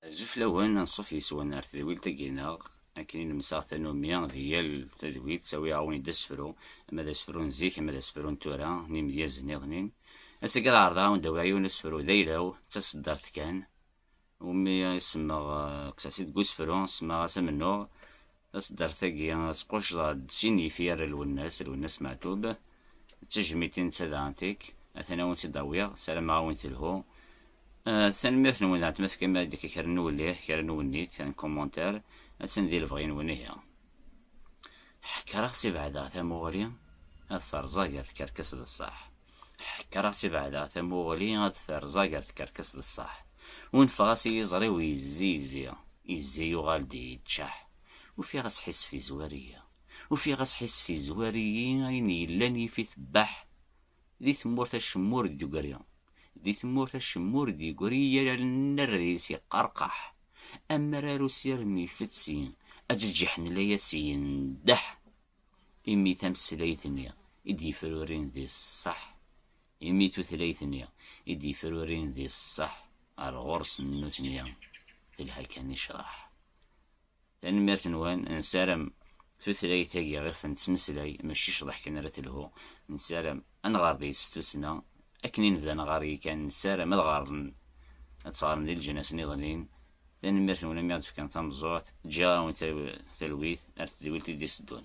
Azul fell-awen, anṣuf yes-wen ar tedwilt-agi-nneɣ, akken i nemsaɣ tanumi di yal tadwilt, ttawiɣ-awen-id asefru, ama d asefru n zik, ama d asefru n tura, n imedyaz nniḍen-in. Ass-agi ad ɛerḍeɣ a wen-d-awiɣ yiwen asefru d ayla-w, d taseddart kan, umi i semmeɣ, kkseɣ-tt-id deg usefru, semmaɣ-as Amennuɣ. Taseddart-agi squcḍeɣ-d sin n yifyar n Lwennas, Lwennas Meɛtub, d tejmitin d tadɛantik, atan a wen-tt-id-awiɣ, sarameɣ a wen-telhu. Tanemmirt-nwen dɣa ma tefkam-aɣ-d akka kra n uwellih, kra n uwennit, un commentaire, atan di lebɣi-nwen ihi. Ḥekreɣ si beɛd-a tamuɣli ad ferẓeɣ gar tkerkas d ṣṣeḥ. Ḥekkreɣ-tt i beɛdeɣ tamuɣli ad d-terẓag ar tkerkas d ṣṣeḥ. Unfeɣ-as i yiẓri-w yezzi yezzi, yezzi yuɣal-d yeččeḥ. Ufiɣ asḥissef yezwar-iyi. Ufiɣ asḥissef yezwar-iyi ayen yellan yif-it baḥ. Di tmurt acemma ur d-yegri. Di tmurt acemma ur d-yegri yal annar-is yeqqarqaḥ. Amrar usirem ifetti, aǧeǧǧiḥ n layas yendeḥ. Imi tameslayt-nni i d-yefrurin di ṣṣeḥ, imi tutlayt-nni i d-yefrurin di ṣṣeḥ ɣer ɣur-sen nutni telha kan i ccḍeḥ. Tanemmirt-nwen, nessaram tutlayt-agi iɣef nettmeslay mačči ccḍeḥ kan ara telhu, nessaram ad nɣer deg-s s tussna, akken i nebda nɣer yakan nessaram ad ɣren ad tt-ɣren di leǧnas-nniḍen-in Tanemmirt-nwen imi i aɣ-d-tefkam tameẓẓuɣt. Ǧǧiɣ-awen talwit ar tedwilt i d-iteddun.